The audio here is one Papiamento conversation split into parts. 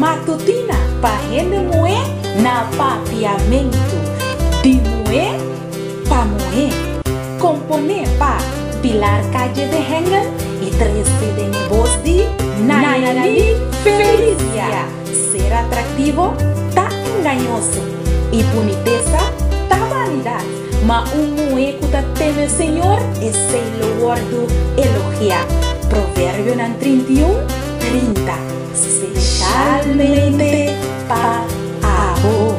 Matutina pa hende muhé na Papiamentu di muhé pa muhé Komponé pa Pilar Calle de Hengel y trese den e bos di Nayalin Felicia Ser atraktivo ta engañoso y bunitesa ta vanidad Ma un muhé ku ta teme Señor esei lo wòrdu elogiá Proverbionan trinta i un, trinta. Spesialmente pa abo.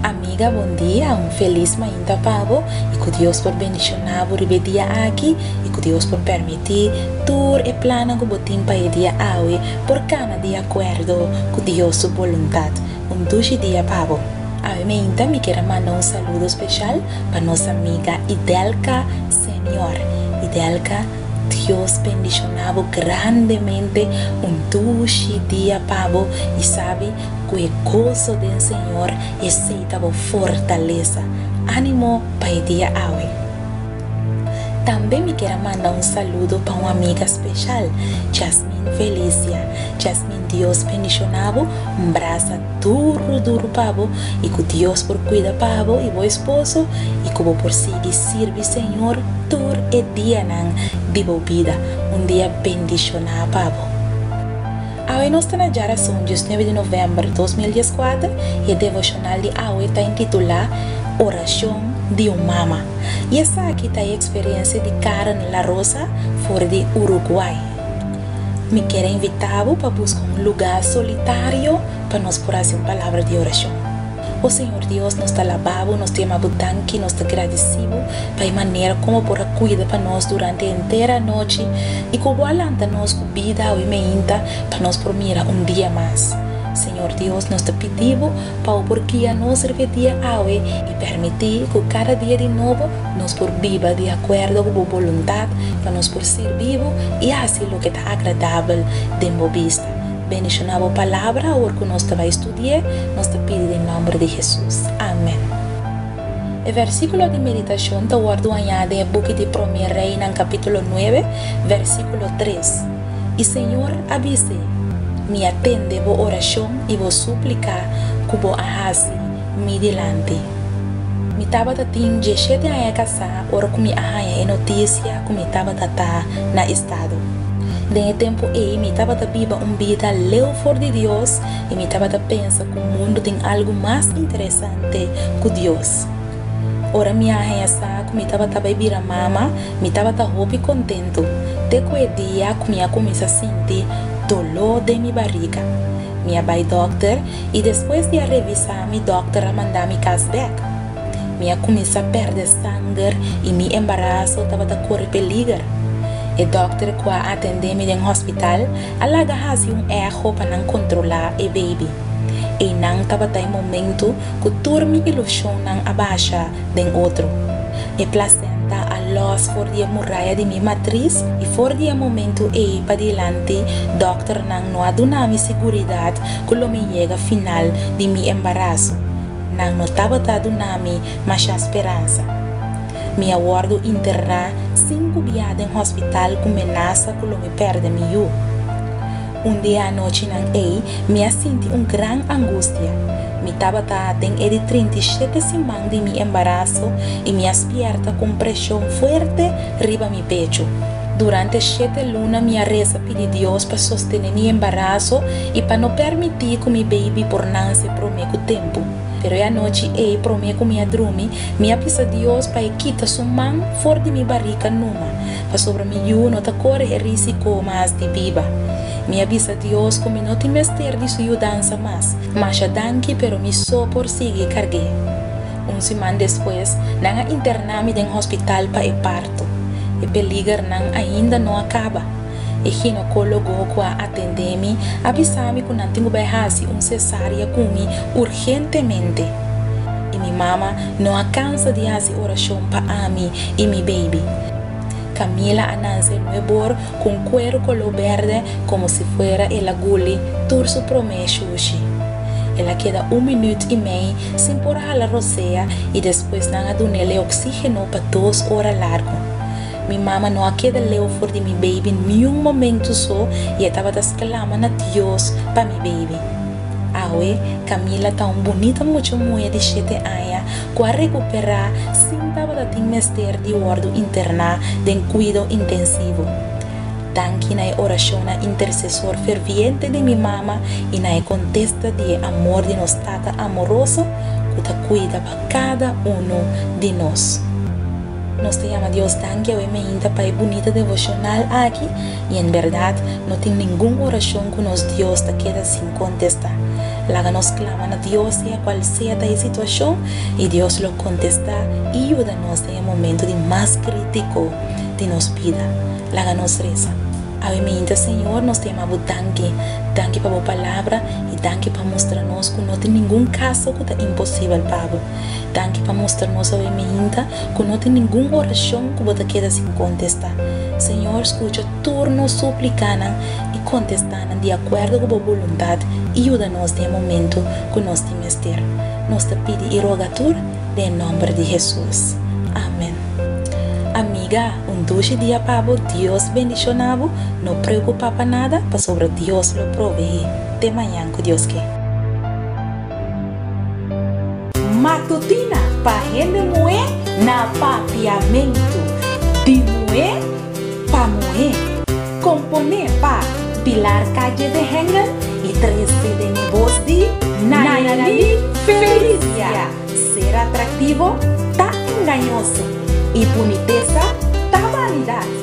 Amiga bon dia un felis mainta pa bo y cu Dios por bendiciona bo riba e dia aki y cu Dios por permiti tur e plannan cu bo tin pa e dia awe por cana di acuerdo cu Dios su boluntad. Un dushi dia pa bo. Ave meinta mi kier a manda un saludo special pa nos amiga Idelka Senior Idelka Dios bendiciona bo grandemente un dushi dia pa bo y sabi cu e gozo den Señor esey ta bo fortaleza animo pa e dia awe. Tambe mi kier a manda un saludo pa un amiga special, Jasmine Felicia. Jasmine Dios bendiciona bo, un brasa duru duru pa bo y cu Dios por cuida pa bo y bo esposo y cu bo por sigui sirbi Señor tur e dianan di bo bida, un dia bendiciona pa bo. Awe nos ta na jara sun diosnuebe di november dos mil dieskuater y e devocional di awe ta intitula Oracion di un mama. y esaki ta e experiencia di Karen La Rosa for di Uruguay. Mi kier a invita bo pa busca un luga solitario pa nos por haci un palabra di oracion. O Señor Dios nos ta laba bo, nos ta yama bo danki, nos ta gradici bo pa e manera como por a cuida pa nos durante e entera anochi y como bo a lanta nos cu bida awe meinta pa nos por mira un dia mas. Señor Dios nos ta pidi bo Pau por guia nos riba dia awe i permití ku kada dia di nobo nos por biba di akuerdo ku bo boluntat pa nos por sirbi bo i hasi loke ta agradabel den bo bista. Bendishoná bo palabra awor ku nos ta bai studi'é, nos ta pidi den nòmber di Hesus. Amèn. E vèrsikulo di meditashon ta wòrdu hañá den e buki di Promé Reinan kapítulo nuebe, vèrsikulo tres. I señor a bis'é, Mi a tende bo orashon i bo súplika ku bo a hasi mi dilanti. Mi tabata tin dieshete aña kasá ora ku mi a haña e notisia ku mi tabata ta na estado. Den e tempu ei mi tabata biba un bida leu for di Dios i mi tabata pensa ku mundu tin algu mas interesante ku Dios. Ora mi a haña sa ku mi tabata bai bira mama, mi tabata hopi kontentu, te ku e dia ku mi a kuminsá sinti doló den mi bariga. Mi a bai dòkter, i despues di a revisá mi dòkter a manda mi kas bèk. Mi a kuminsá pèrdè sanger i mi embaraso tabata kore peliger. E dòkter ku a atendé mi den hospital a laga hasi un echo pa nan kontrolá e beibi. Einan tabata e momentu ku tur mi ilushonnan a basha den otro. E plasenta a lòs for di e muraya di mi matris i for di e momentu ei padilanti dòkternan no a duna mi siguridat ku lo mi yega final di mi embaraso. Nan no tabata duna mi masha speransa. Mi a wòrdu interná sinku bia den hospital ku menasa ku lo mi pèrdè mi yu. Un di e anochinan ei mi a sinti un gran angustia. Mi tabata den e di trinta i shete siman di mi embaraso i mi a spièrta ku un preshon fuerte riba mi pechu. Durante shete luna mi a resa pidi Dios pa sostené mi embaraso i pa no permití ku mi beibi por nanse promé ku tempu. Pero e anochi ei promé ku mi a drumi, mi a bisa Dios pa e kita su man for di mi barika numa. pasobra mi yu no ta kore e risiko mas di biba. Mi a bisa Dios ku mi no tin mester di su yudansa mas. Masha danki, pero mi so por sigui karg'é. Un siman despues, nan a interná mi den hospital pa e parto. E peligernan ainda no a kaba. E ginokólogo ku a atendé mi a bisa mi ku nan tin ku bai hasi un sesaria ku mi urgente. Urgentemente. I mi mama no a cansa di haci oracion pa ami i mi baby. Camila a nance nue bor cu un cuero color berde como si fuera el a guli tur su prome shushi. El a keda un minuut i mei sin por hala rosea i despues nan a dun'el e oxigeno pa dos ora largo. Mi mama no a keda leu for di mi baby niun momento so i e tabata sclama na Dios pa mi baby. Awe, Camila ta un bunita mucha muhe di shete aña ku a rekuperá sin tabata tin mester di wòrdu interná den kuido intensivo. Danki na e orashonnan intersesor ferviente di mi mama i na e kontesta di e amor di nos Tata amoroso ku ta kuida pa kada unu di nos. Nos ta yama Dios danki awe mainta pa e bunita devoshonal aki. I en berdad, no tin ningun orashon ku nos Dios ta keda sin kontestá. Laga nos klama na Dios sea kual sea ta e situashon, i Dios lo kontestá i yuda nos den e momentu di mas krítiko di nos bida. Laga nos resa, Ave Minta, Señor, nos ta yama Bo danki. Danki pa Bo Palabra, i danki pa mustra nos ku no tin ningun kaso ku ta imposibel pa Bo. Danki pa mustra nos, Ave Minta, ku no tin ningun orashon ku bo ta keda sin kontestá. Señor, skucha tur nos súplikanan i kontestá nan di akuerdo ku bo boluntat i yuda nos den e momentu ku nos tin mester. Nos ta pidi i roga tur den e nòmber di Hesus. Amèn. Amiga, un dushi dia pa bo, Dios bendishona bo, no preokupá pa nada, pasobra Dios lo proveé. Te mañan, ku Dios ke. Matutina pa hende muhé na Papiamentu di muhé pa muhé. Komponé pa Pilar Calle de Hengel y trese den e bos di Nayalí Felicia Ser atraktivo ta engañoso y bunitesa ta vanidad.